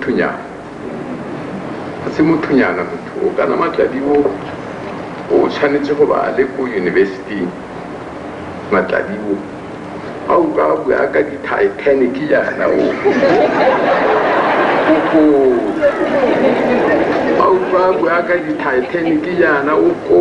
mothunyana ga se mothunyana motho o kana matladi o o tshwanetse go ba le ko yunibesiting matladi o a o ka bua ka di-titanic yana o a o ka bua ka di-titanic yana o ko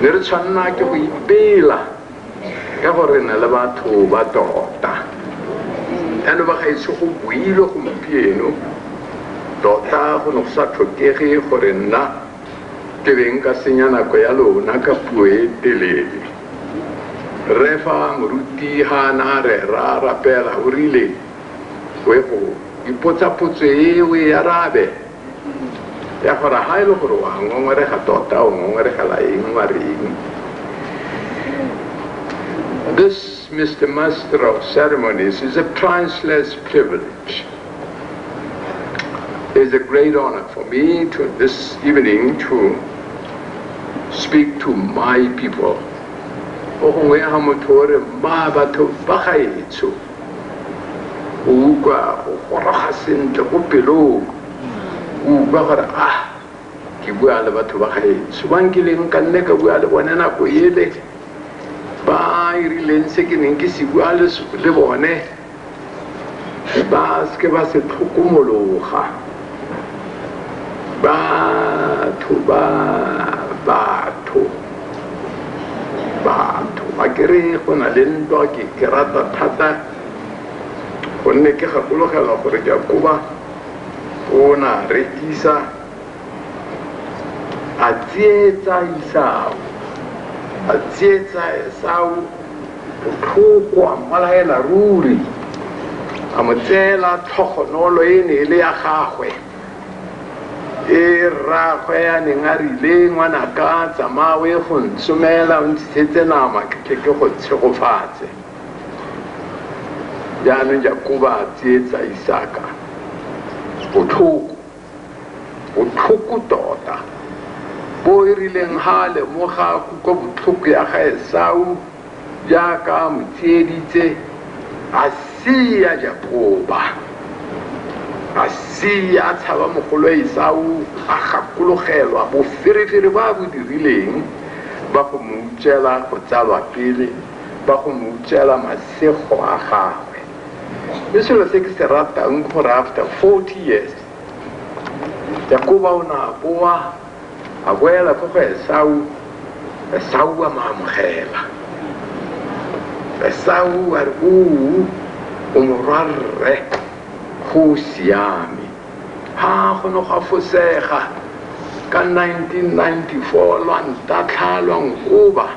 ne re tshwanela ke go ipela ka gore re na le batho ba tota yalo ba gaetsho go builwe gompieno tota go ne go sa tlhokege gore nna ke beng ka senya nako ya lona ka puo e telele refa moruti ga a na rera rapela o rile o e go ipotsapotso e o e arabe ya gore ga e le gore wa ngongorega tota o ngongoregela eng wa reng This, Mr. Master of Ceremonies, is a priceless privilege. It's a great honor for me to this evening to speak to my people. o utlwa o goroga sentle ko pelong o utlwa gore a ah, ke bua le batho ba gaetsho bang ke leng ka nne ka bua le bone nako ele ba irileng se ke neng ke se bua le bone ba seke ba se tlhokomologa batho ba batho batho ba kere go na le ntwa ke ke rata thata gonne ke gakologelwa gore ke a koba o na re isa a tsietsa isao a tsietsa esao botlhoko a mmolaela ruri a mo tseela tlhogonolo e ne e le ya gagwe e rraagwe a neng a rile ngwanaka tsamaya o ye go ntsomela o ntshisetse nama ke tle ke go tshegofatse jaanong jakoba a tsietsa isaka botlhoko botlhoko tota bo e rileng ga a lemoga kutlwa botlhoko ya ga esau Jaaka a mo tsieditse, a sia Jakoba, a sia a tshaba mogolwe Esau, a gakologelwa boferefere ba a bo dirileng ba go mo utswela go tsalwa pele, ba go mo utswela masego a gagwe. Mme selo se ke se ratang ke gore after 40 years Jakoba o ne a boa a boela ko go esau esau a mo amogela esau a re oo o morwarre go o siame ha go ne go afosega ka 1994 lwa ntatlha lwa nkoba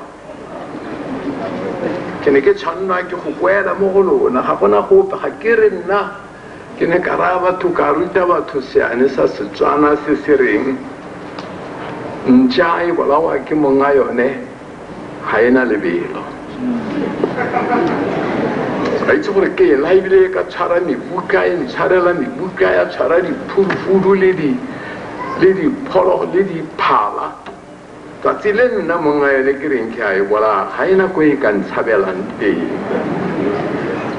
ke ne ke tshwanelwa ke go boela mo go lona ga gona gope ga ke re nna ke ne ka raya batho ka ruta batho seane sa setswana se se reng ntšha e bolawa ke monga yone ga e na lebelo a itse gore ke ena ebile e ka tshwara mebuka e ntshwarela mebuka ya tshwara diphurufudu le diphologolo le diphala Tsatsi le nna monna ene ke reng ke a e bolaya, ga ena ko e ka ntshabelang teng.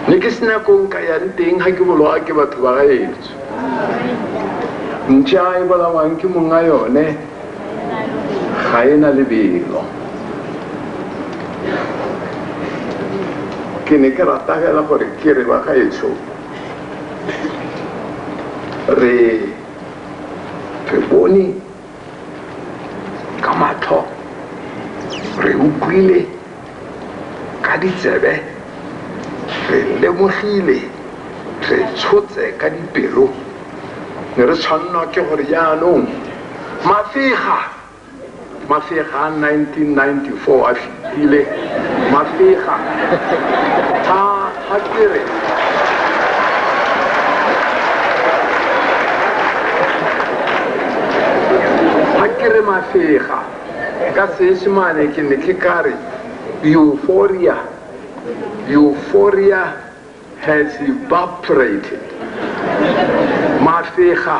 Ne ke sena ko nka yang teng ga ke boloa ke batho ba gaetsho. Ntša e bolawang ke monna yone ga ena lebelo. Ke ne ke rata fela gore ke re ba gaetsho re re bone ka matlho re utlwile ka ditsebe re lemogile re tshotse ka dipelo ne re tshwanelwa ke gore jaanong mafega mafega a 1994 a Pele, Mafega, ha, ha ke re. Ha ke re Mafega, ka Seesemane ke ne ke ka re euphoria, euphoria has evaporated. Mafega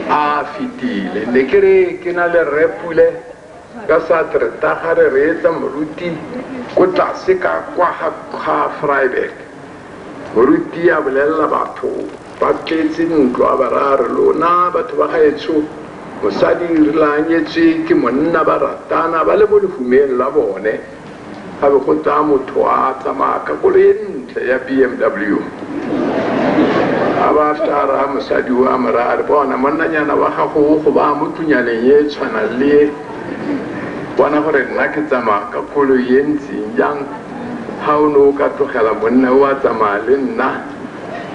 a fetile. Ne ke re ke na le Rre Pule. Ka Sartre, ta ga re reetsa moruti ko tlase ka kwa ga ga Freiberg. Moruti a bolelela batho ba tletse ntlo a ba raya re, Lona batho ba gaetsho, mosadi rile a nyetswe ke monna ba ratana ba le mo lehumeng la bone, Ga be go tla motho a tsamaya ka koloi e ntle ya BMW. A ba tla ra mosadi o a mo raya re bona monnanyana wa gago o go baya mo tunyaneng e tshwanang le e. Bona gore nna ke tsamaya ka koloi e ntseng jang ga o ne o ka tlogela monna o a tsamaya le nna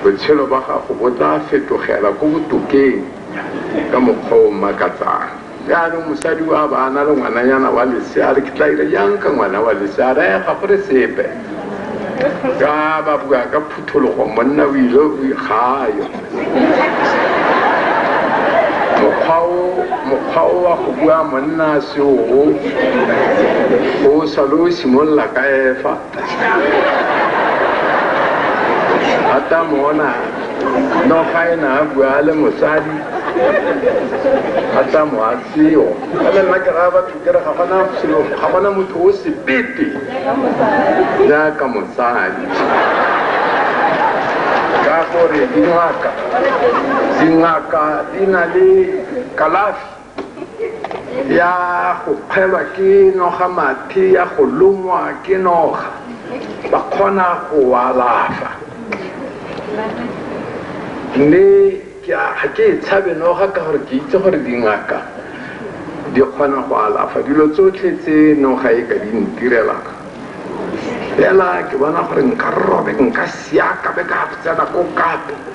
botshelo ba gago bo tla fetogela ko botokeng ka mokgwa o mmakatsang. jaanong mosadi wa ba na le ngwananyana wa lesea re ke tla ira jang ka ngwana wa lesea raya ga gore sepe ka ba bua ka phuthologo monna o ile o ikgayo mokgwa o wa go bua monna seoo o sale o simolola ka efa ata mona no ga e na a bua a le mosadi ata mo a seo ebe nna ke raya batho kere ga gona selo ga gona motho o sebete jaaka mosadi ka gore dingaka dingaka di na le kalafi ya go kgwelwa ke noga mathe ya go longwa ke noga ba kgona go alafa mme ga ke e tshabe noga ka gore ke itse gore dingaka di kgona go alafa dilo tsotlhe tse noga e ka di ntirelang fela ke bona gore nka robe nka siaka be ka tsena ko kape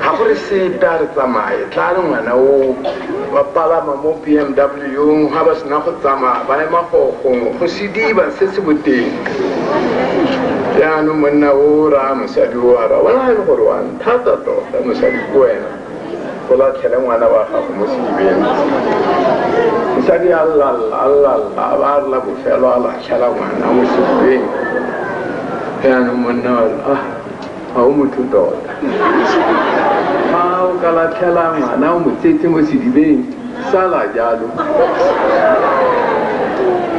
ga go re sepe a re tsamaye tla re ngwana oo ba palama mo b m w ga ba sena go tsamaya ba ema gogongwe go sediba se se boteng jaanong monna o raya mosadi o ara bona e le gore wa nthata tota mosadi ko wena go latlhele ngwana wa gago mo sedibeng mosadi a llalla a llalla a ba a rela bofelo a latlhela ngwana mo sedibeng jaanong monna wa ah ga o motho tota ga o ka latlhela ngwana o motsetse mo sedibeng sala jalo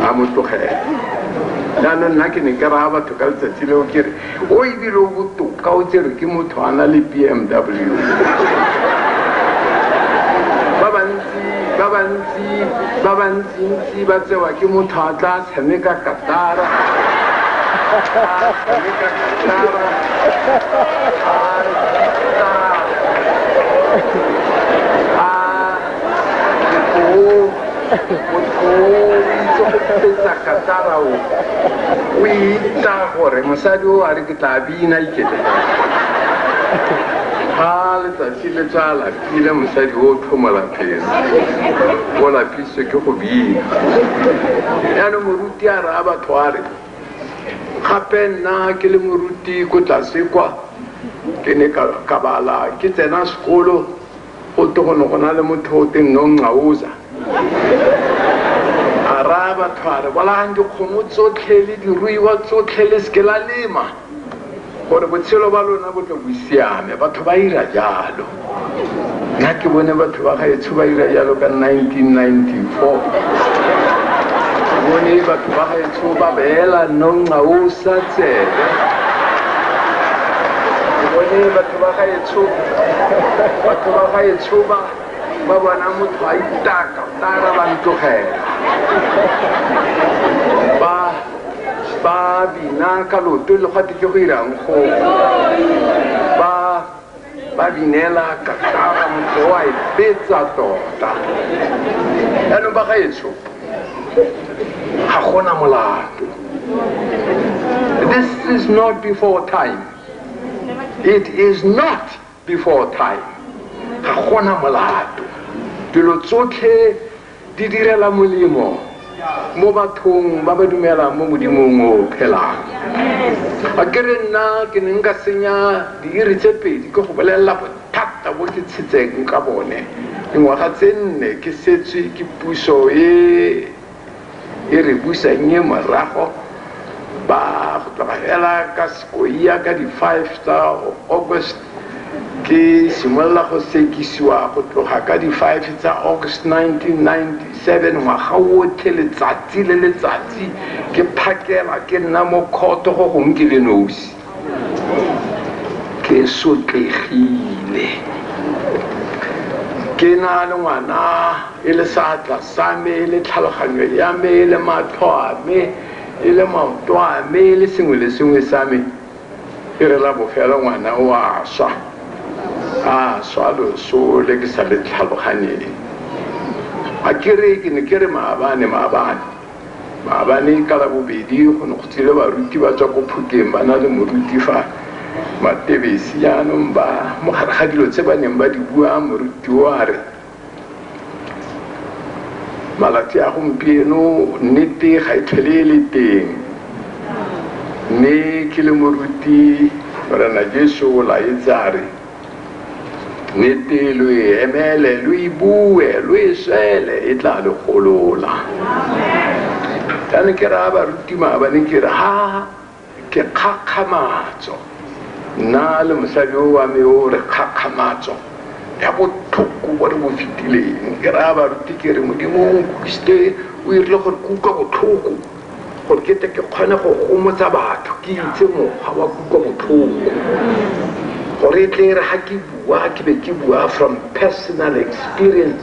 a mo tlogela jaanong nna ke ne ke raya batho ka letsatsi leo ke re o ebile o botoka o tsere ke motho a na le b m w ba bantsi ba bantsi ba bantsintsi ba tsewa ke motho a tla Tamika Katara. Tamika Katara. o itsa gore mosadi o a re ke tla bina ikete ga letsatsi le tsala Pina mosadi o o tlhomo lapeng, o lapisitswe ke go bina. Jaanong moruti a raya batho a re, gape nna ke le moruti ko tlase kwa ke ne ka ka bala ke tsena sekolo go te go ne go na le motho o teng no nqaoza a raya batho a re bolayang dikgomo tsotlhe le diruiwa tsotlhe le seke la lema gore botshelo ba lona bo tle bo siame batho ba ira jalo nna ke bone batho ba gaetsho ba ira jalo ka 1994 bone batho ba gaetsho ba beela nonga o sa tsebe bone batho ba gaetsho batho ba gaetsho ba ba bona motho a itaka tara ba ntogela Ba bina ka loto le gwa teke go irang go ba ba binela kakara motho wa e betsa tota yaanong ba gaetsho ga gona molato this is not before time it is not before time ga gona molato dilo tsotlhe di direla molemo mo bathong ba ba dumelang mo modimong o phelang a ke re nna ke ne nka senya diiri tse pedi ke go bolelela bothata bo ke tshetseng ka bone dingwaga tse nne ke setswe ke puso e E re busannye morago ba go tloga fela ka sekoia ka di five tsa August ke simolola go sekisiwa go tloga ka di five tsa August nineteen ninety seven ngwaga otlhe letsatsi le letsatsi ke phakela ke nna mo kgotho go gongwe ke le nosi. ke sotlegile ke na le ngwana e le seatla sa me e le tlhaloganyo ya me e le matlho a me e le maoto a me e le sengwe le sengwe sa me e re la bofelo ngwana o a swa a swa loso le ke sa le tlhaloganyeng a kere ke ne ke re maabane maabane Maabane ka Labobedi go ne go tswile baruti ba tswa ko Phuteng ba na le moruti fa Matebesi jaanong ba mo gare ga dilo tse ba neng ba di bua moruti o a re malatsi a gompieno nnete ga e tlhole e le teng mme ke le moruti Morena Jesu o laetse a re Nnete lo e emele, lo e bue, lo e swele, e tla le golola. Ka ne ke raya baruti maabane ke re ha ke kgakgamatso nna le mosadi o wa me o re kgakgamatso ya botlhoko bo re bo fetileng ke raya baruti ke re modimo o nkutlwisitse o irile gore ke utlwa botlhoko Gore ke tle ke kgone go gomotsa batho, ke itse mokgwa wa kutlobotlhoko. Gore e tle e re ga ke bua, ke be ke bua from personal experience.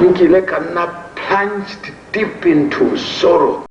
Nkile ka nna plunged deep into sorrow.